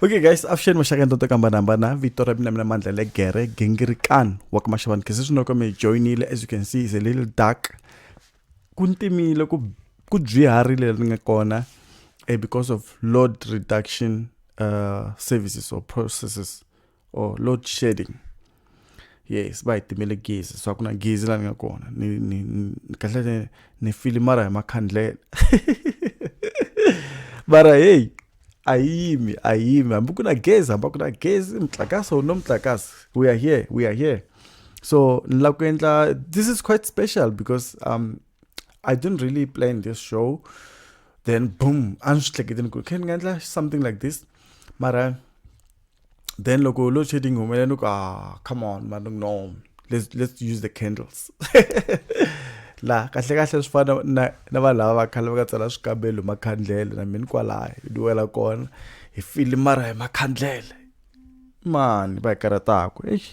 okay guys avuxeni maxaka ntoto ka hambanahambana vito ra mina mina mandla le gere gingirikan wa ka maxavani khese swi noko mi joinile as you can see is a little dark ku ntimile ku ku byiharile leri nga kona eh, because of load reduction uh, services or processes or load shedding yes va hi timele gezi swa ku na gezi laha ni nga kona ni ni kahle ni ni filimara hi makhandlela mara heyi a yi yimi a yi yimi hambi ku na gezi hambi ku na gezi mutlakasi or no mutlakasi we are here we are here so ni lava ku endla this is quite special because um i didn't really plan this show then boom a ni swi hleketeni ku khe ni nga endla something like this mara then loko load shedding yi humelela ni ku ah come on man no let's, let's use the candles la kahle kahle swi fana na na vanhu lava va khale va ka tsala swikambelo hi makhandlele na mina kwalaya hi duwela kona hi fili mara hi makhandlele mani va hi karhataku exi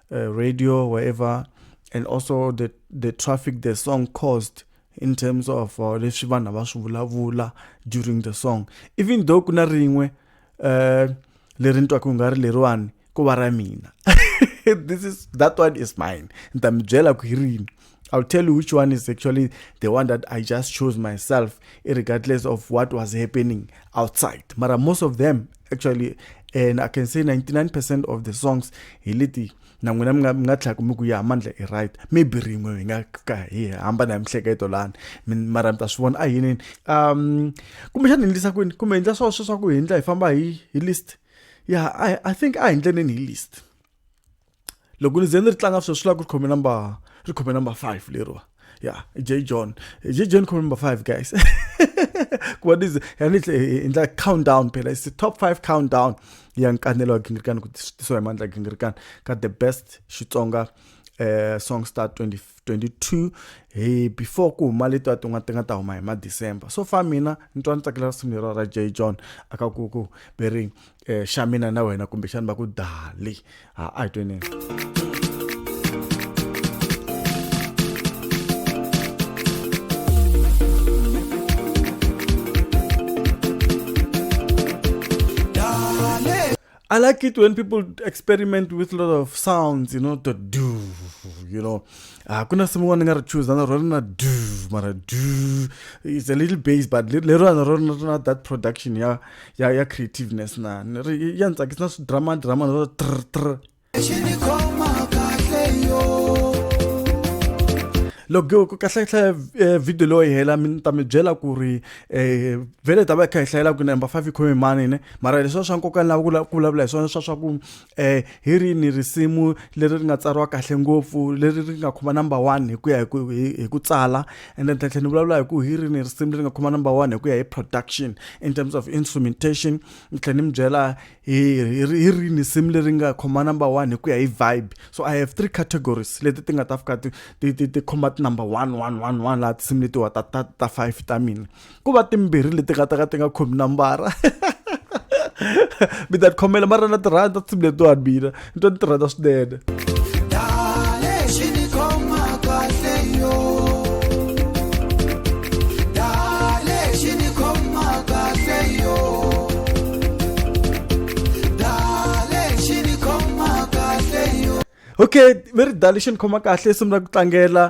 uh, radio, wherever, and also the the traffic the song caused in terms of uh, leswi vanhu va swi vulavula during the song even though ku na rin'we uh, leri ni twaka ku nga ri leriwani ku va ra mina this is that one is mine ni ta mi byela ku hi rini I'll tell you which one is actually the one that I just chose myself, regardless of what was happening outside. But most of them, actually, and I can say 99% of the songs, he literally na n'wina mi nga mi nga tlhela ku mi ku ya mandla i right maybe rin'we hi nga ka hi hamba na hi mihleketo lani mara mi ta swi vona a yinini um kumbexana hi endlisa kwini kumbe hi endla swa sweswaku hi endla hi famba hi hi list ya yeah, I, i think a hi ndleneni hi list loko ni ze ni ri tlanga sweswi swi lava ku ri khome number ri khome number five leriwa ya j john j john khome number five guys kuva ni ze ya ni endla countdown phela is top five countdown ya nkanelo wa gingirikani ku tisiwa hi mandla gingirikani ka the best xitsonga eh, song star 24 22 hi before ku huma leto ti nga ti nga ta huma hi ma December so far mina ni twa ni tsakela risimu lero ra J John aka ku ku beri eh, xa mina na wena kumbe xani va ku dali ha a hi tweni I like it when people experiment with a lot of sounds, you know, the do, you know. Uh, kuna someone ngara choose and rona do, mara do. It's a little bass, but later on rona that production, yeah, yeah, yeah, creativeness na. Yeah, it's like it's not drama, drama, no, trr, trr. loko ku kahlekahle eh, video loyi hela mi ta mi byela ku ri eh vele ta va kha hi hlayela ku number 5 khome mani ne mara leswi swa nkoka lava ku ku vulavula hi swona swa swa ku eh hi ri ni risimu leri ri nga tsariwa kahle ngopfu leri ri nga khoma number 1 hi ku ya hi ku hi ku tsala and then tlhela ni vulavula hi ku hi ri ni risimu leri nga khoma number 1 hi ku ya hi production in terms of instrumentation ni tlhela ni mi byela hi hi rini simu leri nga khoma number one hi ku ya hi vibe so i have three categories leti ti nga ta fika ti ti ti ti khoma ti number one one one one laha tinsimu letiwa ta ta ta five ta mina ku va timbirhi leti nga ta ka ti nga khomi nambara mi ta tikhomela mara na tirhandza tinsimu letiwani mina nto ni tirhana swinene okay very dali xi ni khoma kahle simu ra ku tlangela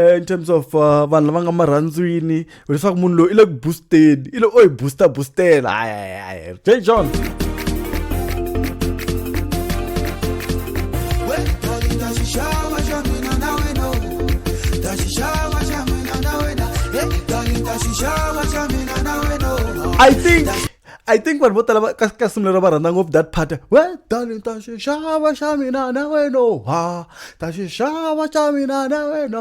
eh, in terms of uh, vanhu lava nga marhandzwini leswaku munhu loyi i le ku boosteni i le o hi booster boostela hayi j john I think I think vanhu vo tala ka ka simulelo va rhandza ngopfu that part we darling ta xi xava xa mina na wena ha ta xi xava xa mina na wena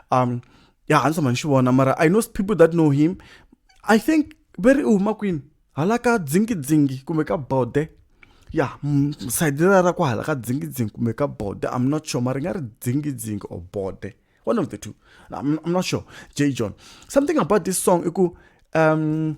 um ya handsome a ni xi vona mara i know people that know him i think ve ri u huma kwini hala ka dzingidzingi kumbe ka bode ya sayiti ra ra ku hala ka dzingidzingi kumbe ka bode i'm not sure mara ri nga ri dzingidzingi or bode one of the two i'm, I'm not sure j john something about this song i ku um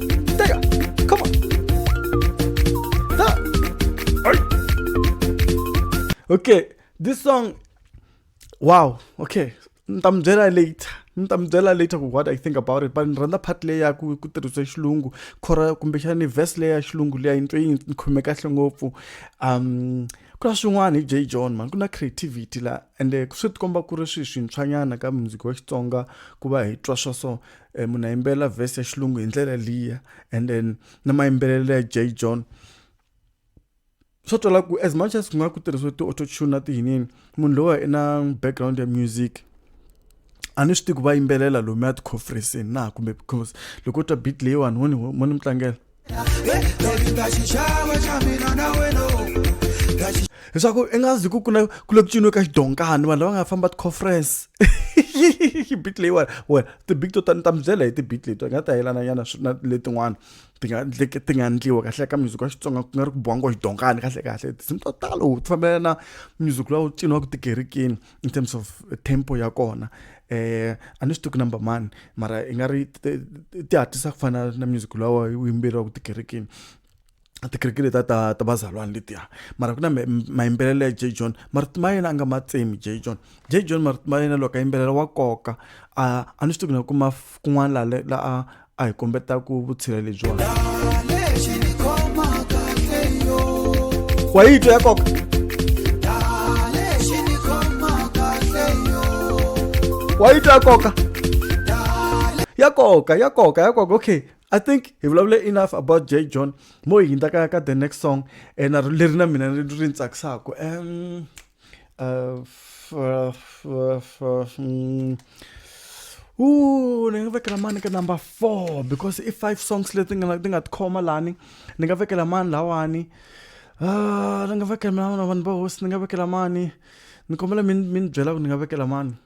There you go. Come on. Ah. Okay, this song. Wow. Okay. ntambyela later ntambyela later ku what i think about it but ni rhandza part leyi ya ku ku tirhisiwe xilungu khora kumbexani vhesi leyi ya xilungu leyi yi ntwe yi ni khome kahle ngopfu um ku na swin'wana hi j john mani ku na creativity laha ende swi tikomba ku ri swi swintshwanyana ka muziki wa xitsonga ku va hi twa swa so um munhu a yimbelela vhesi ya xilungu hi ndlela liya and then na mayimbelelo ya j john swo twala ku as much as ku nga ku tirhisiwe ti-autotune na tiyinini munhu lowa i na background ya music a ni swi tivi ku va yimbelela lomuya tikhonferensini na kumbe because loko u twa beat leyiwani ho ni ho ni mi tlangela leswaku i nga zi ku ku na ku le ku ciniwe ka xidonkani vanhu lava nga famba ti-conference bit leyiwani wena ti-bit to tani ta mi byela hi ti-bit leti nga ta yelana nyana na letin'wana ti nga ti nga endliwa kahle ka music wa xitsonga ku nga ri ku biwangiwa xidonkani kahle kahle tinsimu to talo ti fambelana na music lowu ciniwaka tikerikini in terms of tempo ya kona eh a ni swi tivi number man mara i nga ri ti hatlisa ku fana na music lowa wu yimbeleriwaka tikerekeni tikereke leta ta ta vazalwana letiya mara ku na mayimbelelo ya j john marito ma yena a nga ma tsemi j john j john marito ma yena loko a yimbelela wa koka a a ni swi tivi na kuma kun'wana laha la a a hi kombetaku vutshila lebyiwani wa yi twa ya koka wa yi twa ya koka ya koka ya koka ya koka okay i think hi vulavule enough about j john mo hi hindza ka ka the next song ene leri na mina ri ni tsakisaka um Äh, f, äh, f, äh, f, f, mm. Ooh, ni nga vekela mani ka number four because i five songs leti nga ti nga tikhoma lani ni nga vekela mani lawani ah, ni nga vekela mani vanhu va hosi ni nga vekela mani ni kombela mi ni byela ku ni nga vekela mani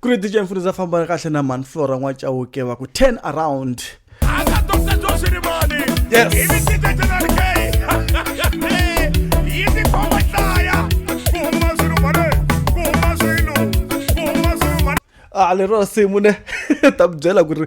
ku ri dj mfundhisa fambana kahle na mani flora n'wacawuke wa ku 10 around a lero simu ne ta byela ku ri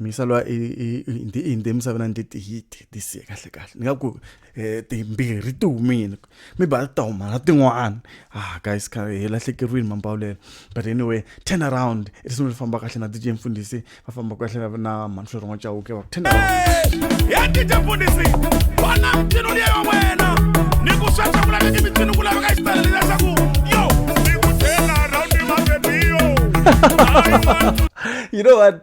misalwa i ndi i ndi misavana ndi ti hit ti siya kahle kahle ni nga ku eh, timbirhi ti humile mi ba ta huma na tin'wana ah guys ka hi lahlekeriwile mambawulelo but anyway turn around ri sungule famba kahle na DJ mfundisi va famba kahle na Manhlori wa Chauke va turn around ya DJ mfundisi bona mtino liya wena ni ku swa chakula ni mtino kula ka istala ni sa ku yo ni ku turn around ma baby yo you know what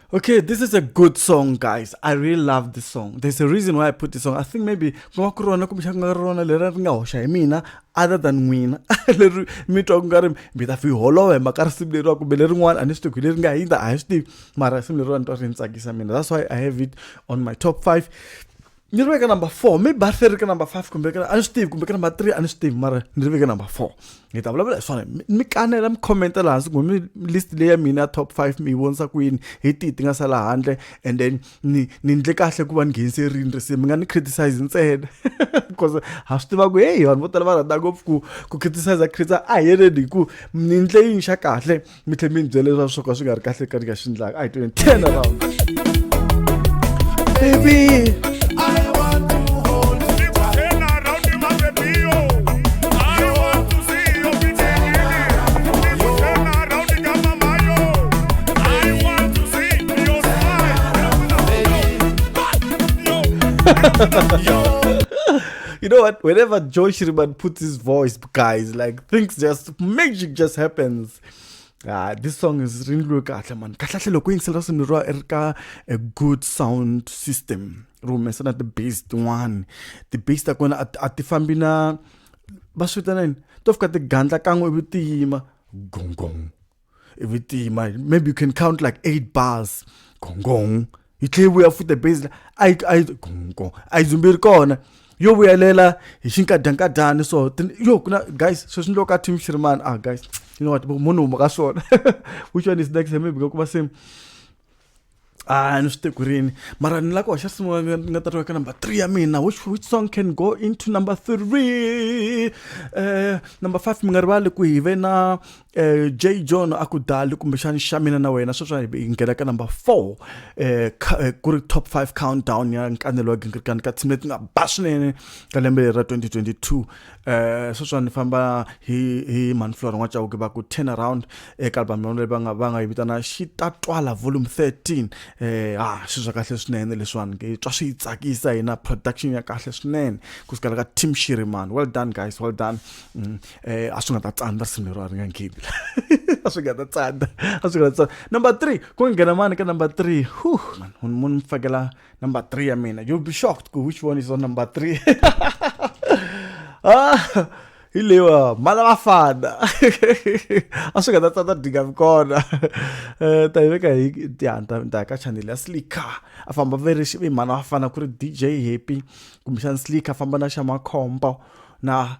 Okay, this is a good song, guys. I really love this song. There's a reason why I put this song. I think maybe other than n'wina leri mi twa ku nga ri mi ta fi holova hi maka risimu leriwa kumbe lerin'wana a ni swi tiku leri nga hindza a hi swi tivi mara risimu leriwa ni twa ri ni tsakisa mina that's why i have it on my top five ni ri veka number four mi barthe ri ka number five kumbe a ni swi tivi kumbe ka number three a ni swi tivi mara ni ri veke number four ni ta vulavula hi swona mi kanela mi khomenta laha hansi kumbe mi list leyi ya mina ya top five mi yi vonisa ku yini hi tihi ti nga sala handle and then ni ni ndle kahle ku va ni ngheniserini risimu mi nga ni criticize ntsena because ha swi tiva ku heyi vanhu vo tala va rhandza ngopfu ku ku criticize criticize a hi yeleni hi ku ni ndle yini xa kahle mi tlhe mi ni byele leswaku swo ka swi nga ri kahle ka ni nga xi ndlaka a hi tweni ten around baby you know what? Whenever Joy Shriman puts his voice, guys. Like things just magic just happens. Ah, this song is really really kahle man. Kahle loko yingisela swinhu ro ri ka a good sound system. Ro humesana the bass one. The bass ta kona a ti fambi na va swi vitanani to fika ti gandla kan'we ivi ti yima gong gong i vi tima maybe you can count like eight bars gongong yi tlhela yi vuya futa base a yi a yi gongong a yi dzumbi ri kona yo vuyelela hi xinkadyankadyani so yo ku na guys sweswi ni loko ka team shirimani ah guys you know what munhu huma ka swona which one is next maybe nga kuma same Ah, ni swi te ku rini mara ni la ku hoxa sungula ni ni nga ta twa ka number three ya mina which, which song can go into number three eh, number five mi nga rivali ku hi ve na eh, j john a ku dali kumbexani xa mina na wena sweswa hi hi nghena ka number four eh, ka- eh, ku ri top five countdown ya nkanelo wa gingirikani ka team leti nga ba swinene ka lembe leri ra 2022 eh sweswi ni famba hi hi manflora n'wa chauke va ku turn around eka album yona leyi va nga va nga yi vitana xi ta twala volume 13 eh ha swi swa kahle swinene leswiwani ke twa swi tsakisa hina production ya kahle swinene ku sukela ka team shirimani well done guys well done mm, eh a swi nga ta tsandza risimu lero a ri nga nghebi a swi nga ta tsandza a swi nga ta tsandza number 3 ku nghena mani ka number 3 huh munhu munhu mfakela Number three, I mean, you'll be shocked ku which one is on number three. ah, hi lewa mala vafana a swi nga ta tsata dinga mi kona um ta yi veka hi tihanti ta ka chanele ya slicker a famba ve ri xivi mhana vafana ku ri dj happy kumbexana slicker a famba na xa makhombo na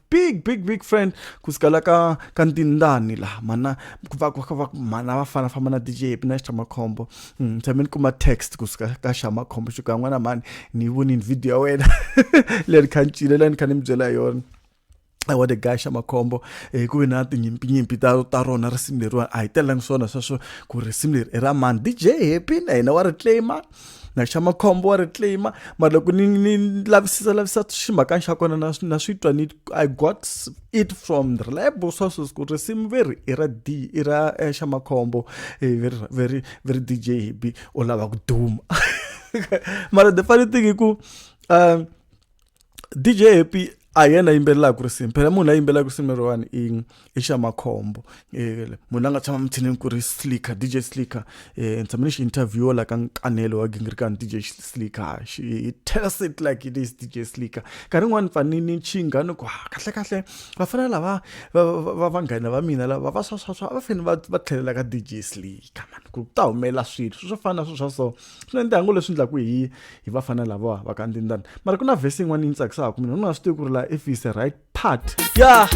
big big big friend ku sukela ka ka ntindani laha mana ku va ku va mana va fana famba na DJ na Shamakhombo mm tshame ni kuma text ku suka ka Shamakhombo xi ka n'wana mani ni voni video ya wena leri khancile leri khanim byela yona wa the guy xa makhombo eh, ku ve na tinyimpinyimpin ta ta rona risimu leriwani a hi telelangi swona sweswo ku risimu leri i ra mani dj happy na hina wa ri claima na xa makhombo wa ri claim mara loko ni ni lavisisa lavisisa ximhakana xa kona na na swi twa ni i got it from reliable sources ku risimu veri i ra d i ra eh, xa makhombo eh, veri veri veri dj hibi u lava ku duma mara the funny thing i ku um dj happy a hi yena yimbelelaka risimu phela munhu la yimbelelaka risimu leriwani i i xa makhombo um munhu la nga tshama mitshinini ku ri slicker dj slicker um ni tshame ni xi interview la ka nkanelo wa gingirikani dj slicker xi tells it like it is dj slicker nkarhi yin'wani ni fani ni chinga ni ku ha kahle kahle va fanele lava va vanghana va mina lava va swaswaswa va fanele va va tlhelela ka dj slicker mani ku ta humelela swilo swi swo fana na swilo swa so swi na ndyangu leswi endlaku hi hi vafana lavawa va ka ndindani mara ku na vhesi yin'wana yi ni tsakisaka mina u nga swi tivi ku ri laha if is the right part ya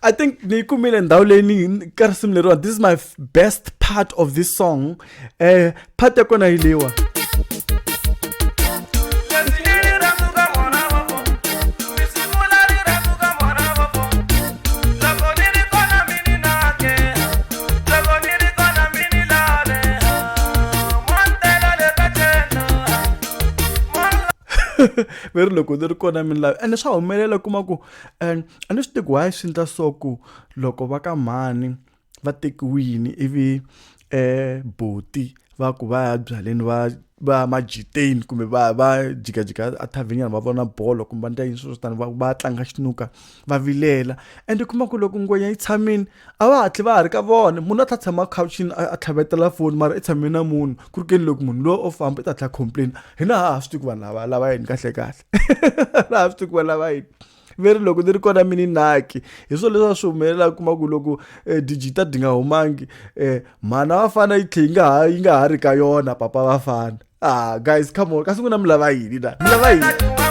i think ni yi kumile ndhawu leyi ni ka risimu leriwani this is my best part of this song um part ya kona yi leyiwa ve ri loko ni ri kona mi ni lavi ene swa humelela kuma ku and a ni swi tivi why swi ndla so ku loko va ka mhani va tekiwini ivi eh boti va ku va ya byaleni va va ya majiteni kumbe va va jikajika a thavhenyana va vona bolo kumbe va ndla yini swilo swo tani va va tlanga xinuka va vilela and u kuma ku loko ngwenya yi tshamile a va hatli va ha ri ka vona munhu a tlha tshama khawuchini a tlhavetela foni mara i tshame na munhu ku ri keni loko munhu loyi o famba i ta tlha complain hina ha ha swi tivi ku vanhu lava lava yini kahlekahle laha swi tivi ku va lava yini ve ri loko ni ri kona mi ni naki hi swona leswi a swi humelelaka kuma ku loko um eh, dijita di nga humangi um mhana va fana yi tlhe yi nga ha yi nga ha ri ka yona papa va fana ah guys come on kasi n'wina mi lava yini na mi lava yini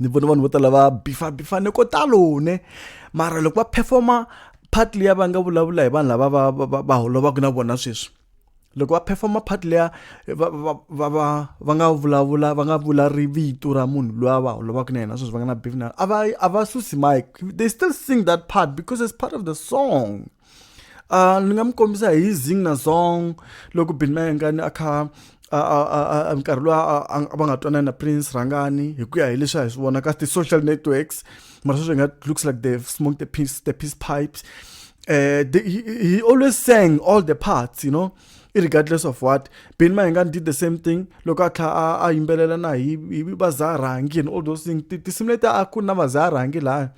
ni vona vanhu vo tala va bifa bifa ni ko talo ne mara loko va performa part leyi va nga vulavula hi vanhu lava va va va holovaka na vona sweswi loko va performa part leya va va va va va nga vulavula va nga vula ri vito ra munhu loyi a va holovaka na yena sweswi va nga na beef na a va a va susi mike they still sing that part because it's part of the song Uh, ni nga mi kombisa hi zing na zong loko bin mayengani a kha nkarhi loyi a va nga twanani na prince rhangani hi ku ya hi leswi a hi swi vona ka ti-social networks mara sweswi hi nga looks like they smoke the peace, the peace pipes uh, they, he, he always sang all the parts you know regardless of what ben mahingan did the same thing loko a tlha a yimbelela na hi va zarangi and all those things tinsimu leti a ku na va zarangi laya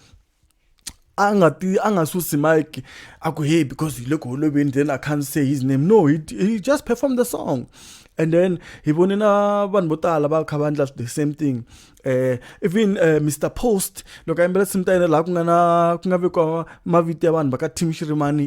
a nga ti a nga susi mike a ku hey because hi le ku holoveni then i can't say his name no he, he just performed the song and then hi vone na vanhu vo tala va kha va endla the same thing eh even uh, eh, Mr Post loko a yimbela tinsimu ta yena laha ku nga na ku nga vekiwa mavito ya vanhu va ka Team Shirimani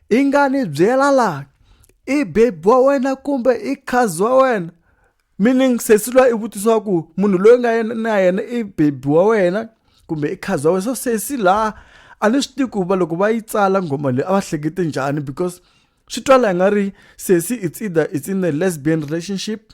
i nga ni byela laha i bebi wa wena kumbe i khazi wa wena meaning sesi lwa i vutisiwa ku munhu loyi nga yena na yena i bebi wa wena kumbe i khazi wa wena so sesi laha a ni swi tivi ku va loko va yi tsala nghoma leyi a va hlekete njhani because swi twala i nga ri sesi it's either it's in a lesbian relationship.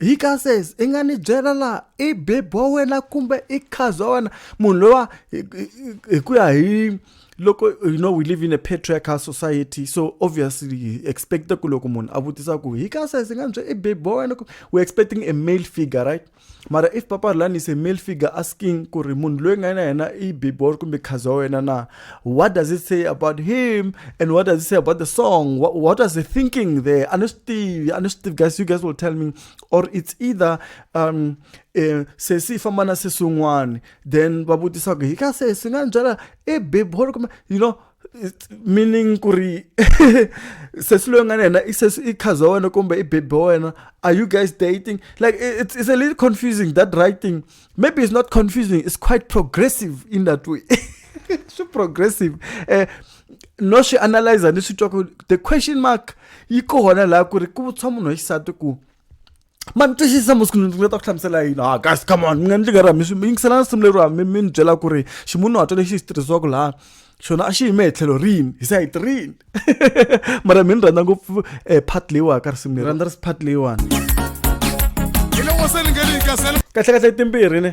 hi ka says i nga ni byela laha i baby wa wena kumbe i cousin wa wena munhu lowa hi ku ya hi loko you know we live in a patriarchal society so obviously hi expecta ku loko munhu a vutisa ku hi ka says i nga ni byela i baby wa wena we're expecting a male figure right mara if papa rulani is a male figure asking ku ri munhu loyi nga na yena i baby wa kumbe cousin wa wena na what does it say about him and what does it say about the song what, what was the thinking there i know steve i know steve guys you guys will tell me or it's either um eh, se si famana se sungwani then va vutisa ku hi ka se si nga byala e bebolo kumbe you know meaning ku ri sesi loyi nga na yena i sesi i khaza wa wena kumbe i bebe wa wena are you guys dating like it's, it's a little confusing that writing maybe it's not confusing it's quite progressive in that way swi progressive eh no swi analyzer ni swi twa ku the question mark yi kona laha ku ri ku vutshwa munhu wa xisati ku ma ni twisisa masiku ndzi nga ta ku hlamusela yini ha ah, guys come on mi nga ndzi nga rami yingiselana simu leriwa mi mi ni byela ku ri ximunhu hatwa lexi xi tirhisiwaka laha xona a xi yime hi tlhelo rini hi sayiti rini mara mi ni rhandza ngopfu um eh, part leyiwani ka risimu leri rhandza risi part leyiwani kahle kahle timbirhi ne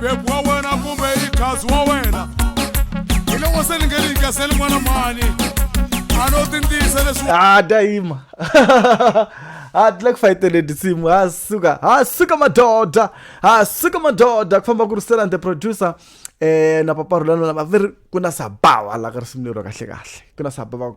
bebu wa wena kumbe i kazi wa wena hi loko se ni nge ni yikaseli n'wana mani a no tintiyisa leswi ah dayima ha tlula ku fayitele tinsimu ha suka ha suka madoda ha suka madoda ku famba ku rusela the producer eh na paparulano lava veri ku na sabawa la ka risimu lero kahle kahle ku na sabawa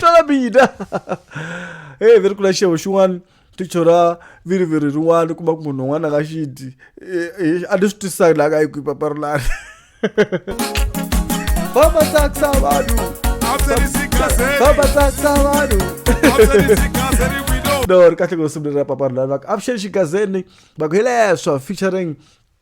twala mina hey veri kula xevo xin'wana ti chora viriviri rin'wana kuma ku munhu un'wana ka xidi a ni swi twisisaki laha ka yi kwi papa rilani vama tsakisa vanhu vama tsakisa vanhu no ri kahle ku sungula ra papa rilani va ku avuxeni xigazeni va ku hi leswo featuring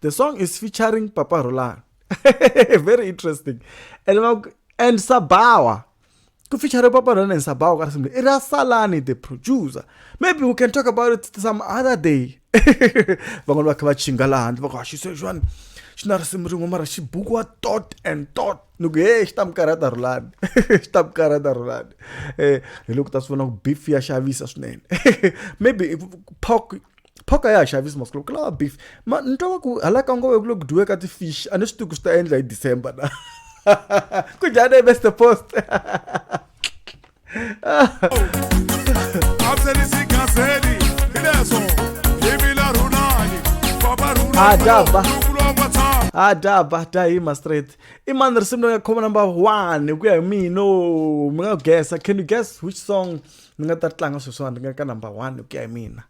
the song is featuring papa rolan very interesting and, and sabawa ku feature papa rolan and sabawa ka risimu i ra salani the producer maybe we can talk about it some other day van'wana va kha va chinga laha handle va ku haxi sweswiwani xi na risimu rin'we mara xi bukiwa tot and tot ni ku he xi ta mi karhata rhulani xi ta mi karhata rhulani um hi loko ta swi vona ku beef ya xavisa swinene maybe pok phoka ya ha xavisi masiku lawa ku lava beef ma ni twa va ku hala ka ngove ku le ku dyiweka ti-fish a ni swi tivi ku swi ta endla hi december na ku njhani hi mr post adaba adaba ta hima straight i mani risimu leri nga khoma number one hi ku ya hi mina mi nga gesa can you guess which song ni nga ta tlanga sweswiwani ni nga ka number one hi ku ya hi mina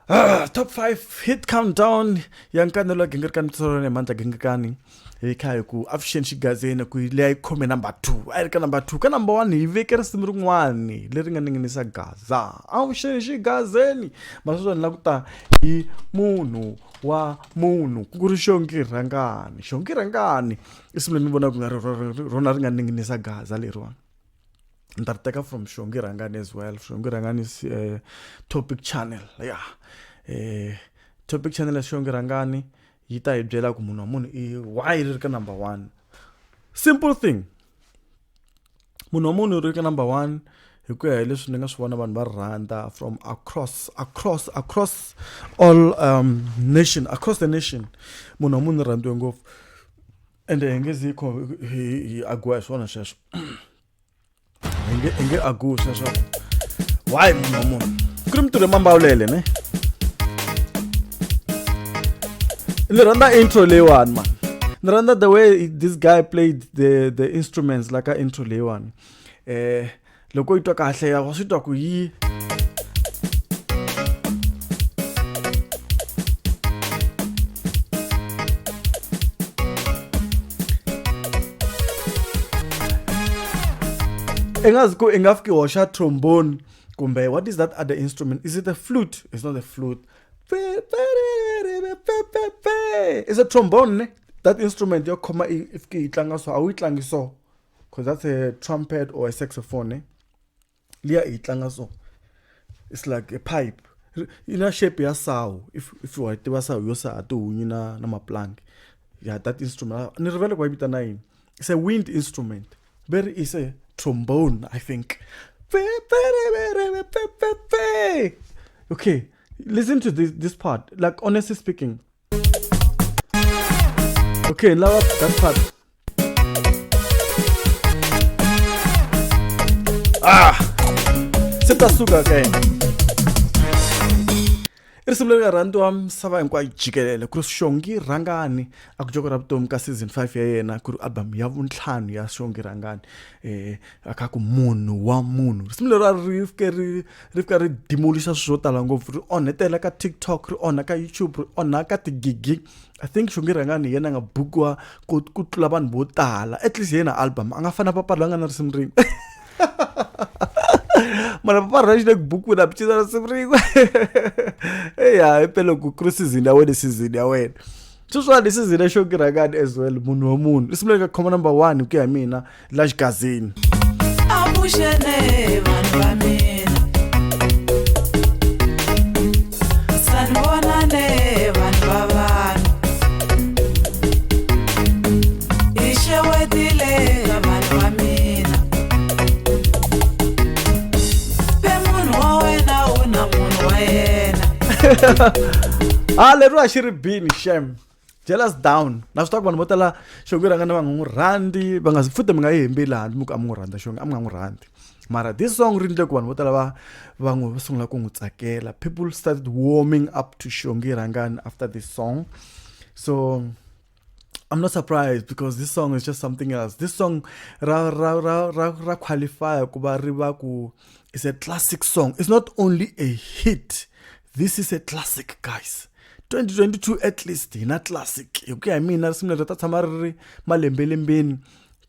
Ah, top 5 hit countdown ya nkanelo ya gingirikani mitsolo ne mandla gingirikani hi kha hi ku avuxeni xigazeni ku leyi a yi khome number two a yi ri ka number two ka number one hi veke risimu rin'wani leri nga ninginisa gaza avuxeni xigazeni masweswo ni la ku ta hi munhu wa munhu ku ri xongi rhangani xongi rhangani i simu leri ni vonaka ku nga ri rona ri nga ninginisa gaza leriwani ni ta ri teka from shongi rhangani as well shongi rhangani is uh, topic channel ya yeah. eh, topic channel ya shongi rhangani yi ta hi byela ku munhu wa munhu i why ri ri ka number one simple thing munhu wa munhu ri ka number one hi ku ya hi leswi ni nga swi vona vanhu va rhandza from across across across all um, nation across the nation munhu wa munhu rhandziwe ngopfu ende hi nge zi hi agiwa hi swona sweswo hi nge hi nge akusa swa why munhu wa munhu ku ri mintirho emambawulele ne ni rhandza intro leyiwani mani ni rhandza the way this guy played the, the instruments la ka intro leyiwani eh loko yi twa kahle ya wa swi twa ku yi i nga zi ku i nga fiki hoxa trombone kumbe what is that other instrument is it a flute it's not a flute is a trombone ne that instrument yo khoma i fiki yi tlanga so a wu yi tlangi so because that's a trumpet or a saxophone ne liya hi yi tlanga so it's like a pipe yi na shape ya sawu if if wa yi tiva sawu yo saha tihunyi na na maplanki ya that instrument ni rivele ku va yi vitana yini it's a wind instrument very is a trombone i think okay listen to this, this part like honestly speaking Okay, now up, that's part. Ah! Se ta suka ka yena. I risimu leri nga rhandiwa misava hinkwayo jikelele ku ri xongi rhangani a ku joko ra vutomi ka season five ya yena ku ri album ya vuntlhanu ya xongi rhangani um akaku munhu wa munhu risimu leri a ri fike ri ri fika ri demolixa swilo swo tala ngopfu ri onhetela ka tiktok ri onha ka youtube ri onha ka tigigi i think xonge rhangani hi yena a nga bukiwa ku ku tlula vanhu vo tala at least hi yena album a nga fana papala la nga na risimu rin'we mara papara ra xi le ku bukwini a bicisa risimu rin'we eya hi pele ku kuri sizini ya wena sizini ya wena sweswiwani i sizini ya xonge rhangani as well munhu wa munhu risimu leri nga khoma number one hi ku ya hi mina la xigazini avuxene vanhu va mina sanivonane vanhu va vanhu hi xewetile ka vanhu va mina pe munhu wa wena u na munhu wa yena ha ah, leriwa xi ri bini xem jealous down na swi tiva ku vanhu vo tala xongo rhanga na va nga n'wi rhandi va nga futhi mi nga yi hembeli handle mi ku a mi n'wi rhandza xongo a mi nga n'wi rhandi mara this song ri ndle ku vanhu vo tala va va n'wi va sungula ku n'wi tsakela people started warming up to xongi rhangani after this song so I'm not surprised because this song is just something else. This song ra ra ra ra, ra qualify ku va ri va ku is a classic song. It's not only a hit. This is a classic guys. 2022 at least hi na classic hi ku ya hi mina risimu leri ta tshama ri ri malembelembeni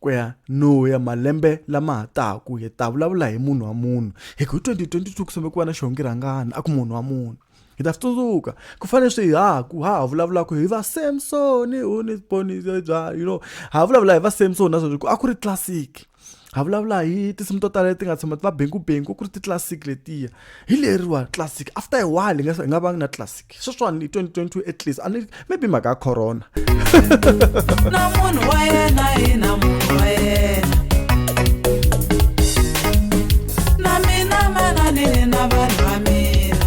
ku ya no ya malembe lama ha taku hi ta vulavula hi munhu wa munhu hi ku hi 2022 ku same ku va na xihongi rhangani a ku munhu wa munhu hi ta swi tsundzuka ku fanele swi haku ha ha vulavulaka hi va samson u ni ponise bya you know ha vulavula hi va samson na sweswi ku a ku ri classic ha vulavula hi tinsimu to tala leti nga tshama va bengubengu ku ri ti-classic letiya hi leriwa classic after a while hi nga hi nga vangi na classic sweswiwani hi 2022 at least ani maybe mhaka ya corona na munhu wa yena hi na munhu wa yena na mina mananini na vanhu va mina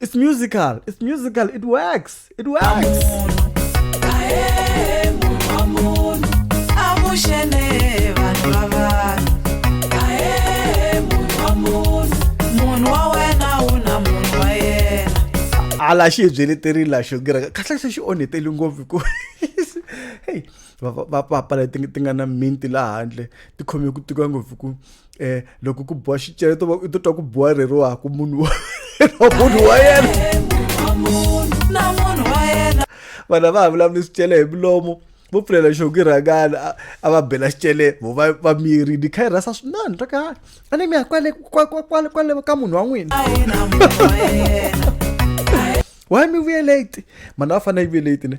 it's musical it's musical it works it works ala xi hi byeleterile la xo gira kahle se xi onheteli ngopfu ku heyi vapala ti nga na minti laha handle ti khome ku tika ngopfu ku eh loko ku boha xicele to u titwa ku boha rero wa ku munhu wa munhu wa yena vana va ha vulavuli swicele hi milomo vo pfulela xoki rhangana a va bela xicele vo va va miri ni kha yi rhasa swinani swa ka a ni mi ya kwale kwale kwale ka munhu wa n'wina why mi vuye late mhana a fanele yi vuye late ne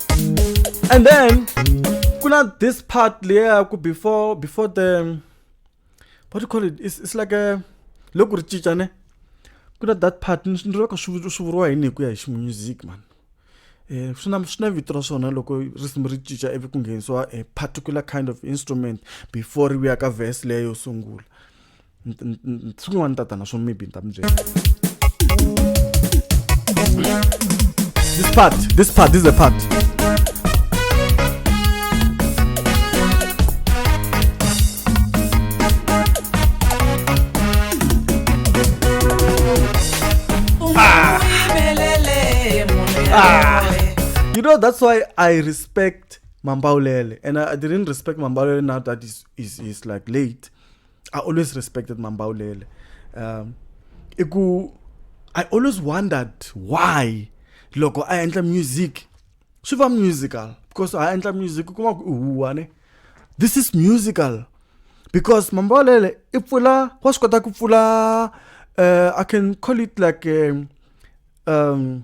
and then ku na this part leya ku before before the what do you call it it's, it's like a loko ri cinca ne ku na that part ni ri ka swi vuriwa yini hi ku ya hi ximusic man um swi na swi na vito ra swona loko risimu ri cinca ivi ku nghenisiwa a particular kind of instrument before ri vuya ka vhesi leyo sungula siku n'wana tatana swo maybe ni ta mi byela this part this part this is the part Ah. You know, that's why I respect Mambaulele. And I, I didn't respect Mambaulele now that he's, he's, he's like late. I always respected Mambaulele. Um, iku, I always wondered why loko a endla music swi va musical because a endla music u kuma ku huwa ne this is musical because mambalele i pfula wa swi kota ku pfula uh, i can call it like um, um,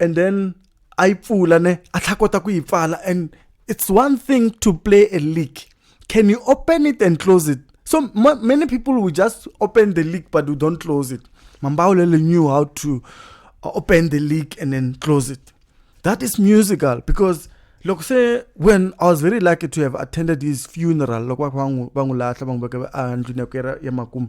and then a yi pfula ne a tlha kota ku yi pfala and it's one thing to play a league can you open it and close it so many people will just open the league but we don't close it mambaulele knew how to uh, open the league and then close it that is musical because look say when i was very lucky to have attended his funeral loko va n'wi lahla va n'wi veka a ndlwini ya ku ya makumu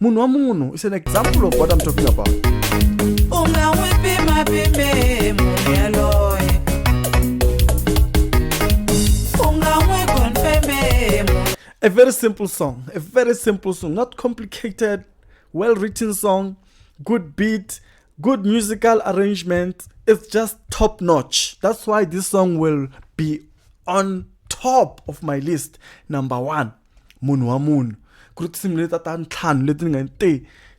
munhu wa munhu is an example of what i'm talking about u nga n'wi pimapime munhu yaloye u nga n'wi konfeme a very simple song a very simple song not complicated well written song good beat good musical arrangement it's just top notch that's why this song will be on top of my list number one munhu wa munhu ku ri tinsimu leti ta ntlhanu leti ni nga te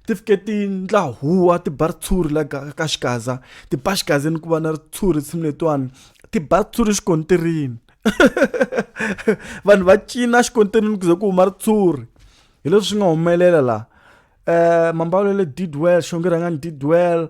ti fike ti ndla huwa ti ba ritshuri la ka ka xikaza ti ba xikaza ni ku va na ritshuri tinsimu letiwani ti ba ritshuri xikontirini vanhu va cina xikontirini ku ze ku huma ritshuri hi leswi swi nga humelela laha um mambalelo did well xongerhangani did well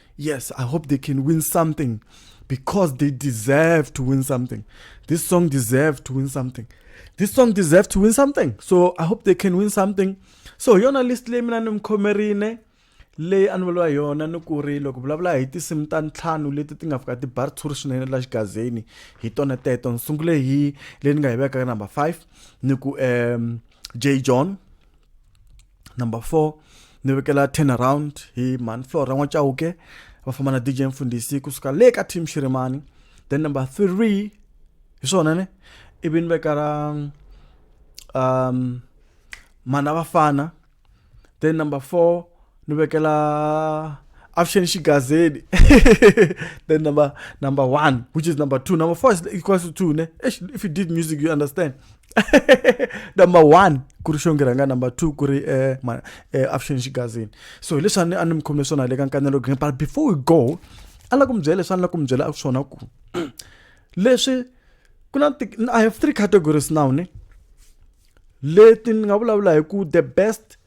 Yes, I hope they can win something because they deserve to win something. This song deserves to win something. This song deserves to win something. So I hope they can win something. So yona list leyi mina ni mukhomerile leyi a ni vuriwa yona ni ku ri loko vulavula hi tinsimu ta ntlhanu leti ti nga fika ti bar tshuri swinene la xigazeni hi tona teto ni sungule hi leyi ni nga yi veka ka number five ni ku um j john number four ni vekela turn around hi mhani flora n'wachauke va famba na dj mfundhisi kusuka le ka team xirimani then number three hi swona ne ivi ni veka ra um mana vafana then number four ni vekela avuxeni xigazeni then number number one which is number two number four is equals to two ne if you did music you understand number one ku ri xongi rhanga number two ku ri eh, ma eh, avuxeni xigazini so hi leswi a ni a ni mi khomile swona le ka nkanelo green but before we go a la ku mi byela leswi a ni la ku mi byela swona ku leswi ku na i have three categories now ne leti ni nga vulavula hi ku the best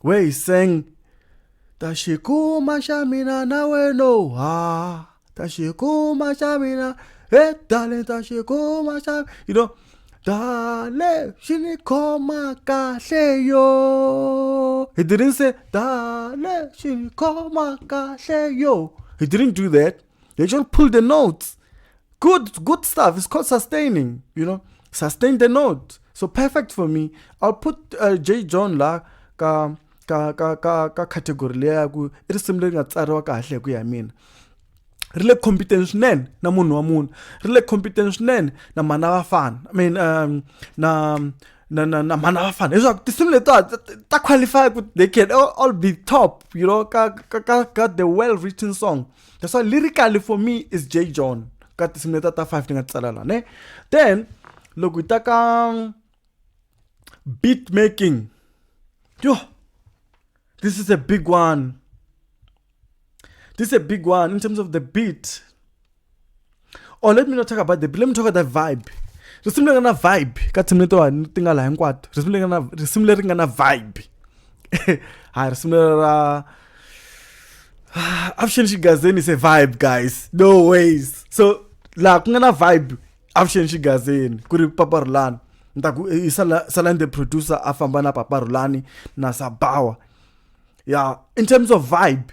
where he sang tashikuma xa mina na weno ha tashikuma xa mina hey darling tashikuma xa you know dale xi ni khoma kahle yo he didn't say dale xi ni khoma kahle yo he didn't do that They just pull the notes. Good, good stuff. It's called sustaining, you know. Sustain the note. So perfect for me. I'll put uh, J. John la ka ka ka ka ka category leyi ya ku i risimu leri nga tsariwa kahle ku ya mina ri le competence swinene na munhu wa munhu ri le competence swinene na mhana vafana i mean um, na na na na mhana vafana leswaku tinsimu letiwa ta qualify ku they can all, all be top you know ka ka ka ka the well written song that's why lyrically for me is j john ka tinsimu leta ta five ti nga tsala la ne then loko hi ta ka um, beat making yo this is a big one this is a big one in terms of the beat or oh, let me not talk about the let me talk about the vibe risimu leri nga na vibe ka team letiwani ti nga laha hinkwato risimu leri nga na risimu leri nga na vibe ha risimu leri ra avuxeni xigazeni se vibe guys no ways so laha ku nga na vibe avuxeni xigazeni ku ri paparulani ni ta ku eh, i salani the producer a famba na paparulani na sabawa ya in terms of vibe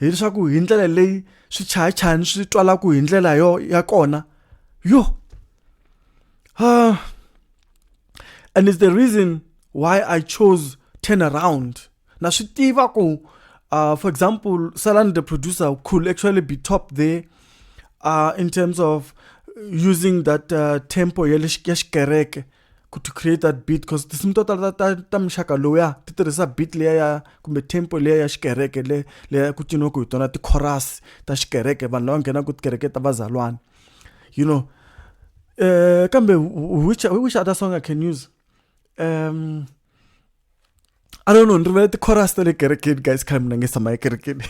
hileswaku hi ndlela leyi swichayachayani swi twalaku hi ndlela yo ya kona yo uh, and it's the reason why i chose turn around na swi tiva ku uh, for example salani the producer could actually be top there uh, in terms of using that uh, tempo ya xikereke ya ku to create that beat because tinsimu to tala ta, ta muxaka lowuya ti tirhisa beat leya ya kumbe tempo leya ya xikereke le leya ku ciniwaka hi tona ti-chorus ta xikereke vanhu lava nghenaka tikereke ta vazalwana you know uh, kambe which, which other song i can use um, I don't know, ndrivele ti-chorus ta le kerekeni guys khale mina nge tshama ekerekeni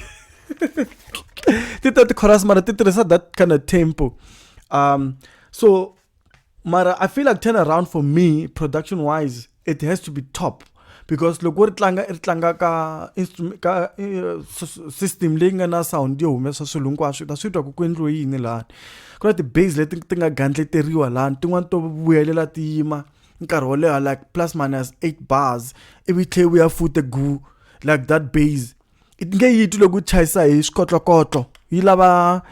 ti ta ti-chorus mara ti tirhisa that kind of tempo um so mara i feel like turn around for me production wise it has to be top because loko ri tlanga ri tlanga ka ka eh, system leyi nga na sound yo humesa swilo hinkwaswo ta swi twa ku ku endliwe yini lani ku na ti-base leti ti nga gandleteriwa lani tin'wani to vuyelela ti yima ti nkarhi wo leha like plus minus 8 bars ivi tlhe wu ya fute gu like that base nge yi twi loko yi chayisa hi swikotlokotlo yi lava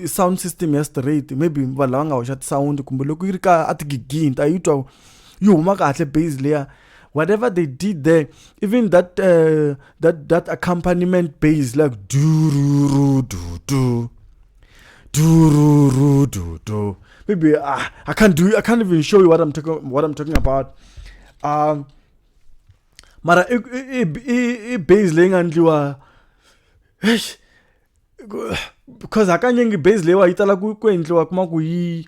sound system ya straight maybe vanhu lava nga hoxa tisawundi kumbe loko yi ri ka a tigigini ta yi twa yi huma kahle base leya whatever they did there even that uh, that that accompaniment base like dururu dudu Dururu, du, du. Maybe uh, I can't do. I can't even show you what I'm talking. What I'm talking about. Um, mara i i i i base leyi nga ndliwa eish, ku- because hakanyingi base leyiwa yi tala ku ku endliwa kuma ku yi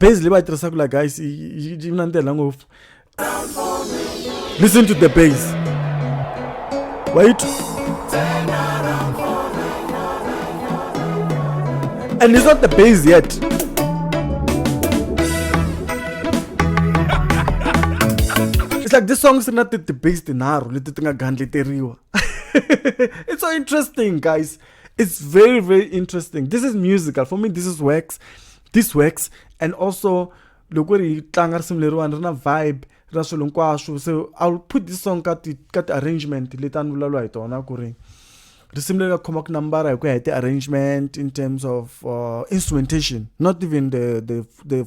base leyi va yi tirhisaka la guys yi na ndlela ngopfu listen to the base wa yi and it's not the base yet it's like this song is not the, the base tinharhu leti ti nga gandleteriwa it's so interesting guys It's very, very interesting. This is musical. For me, this is works. This works. And also, loko ri tlanga risimu leriwani ri na vibe ra swilo hinkwaswo so i'll put this song ka ti ka ti-arrangement leti a ni vulavula hi tona ku ri risimu leri nga khoma ku nambara hi ku ya hi ti-arrangement in terms of uh, instrumentation not even the, the, the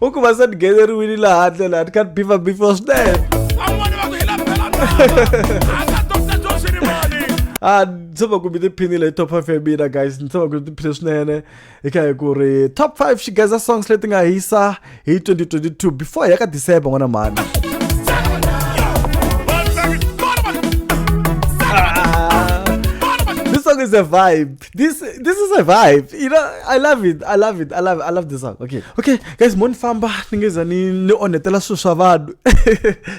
u ku va se ni ngheneriwile laha handle laha ni kha ni bifa before swinene a ni tshama ku mi tiphinile hi top five ya mina guys ni tshama ku mi tiphile swinene hi kha hi ku ri top five xigeza songs leti nga hisa hi 2022 before hi ya ka december n'wana mhani this song is a vibe. This this is a vibe. You know, I love it. I love it. I love it. I love this song. Okay. Okay, guys, mo ni famba ni nge za ni ni onhetela swilo swa vanhu.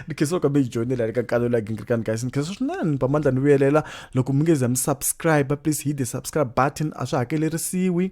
Ni khensa loko mi hi joinela eka kalo la Gingirikani guys. Ni khensa swinene pamandla ni vuyelela loko mi nge za mi subscribe please hit the subscribe button a swi hakelerisiwi.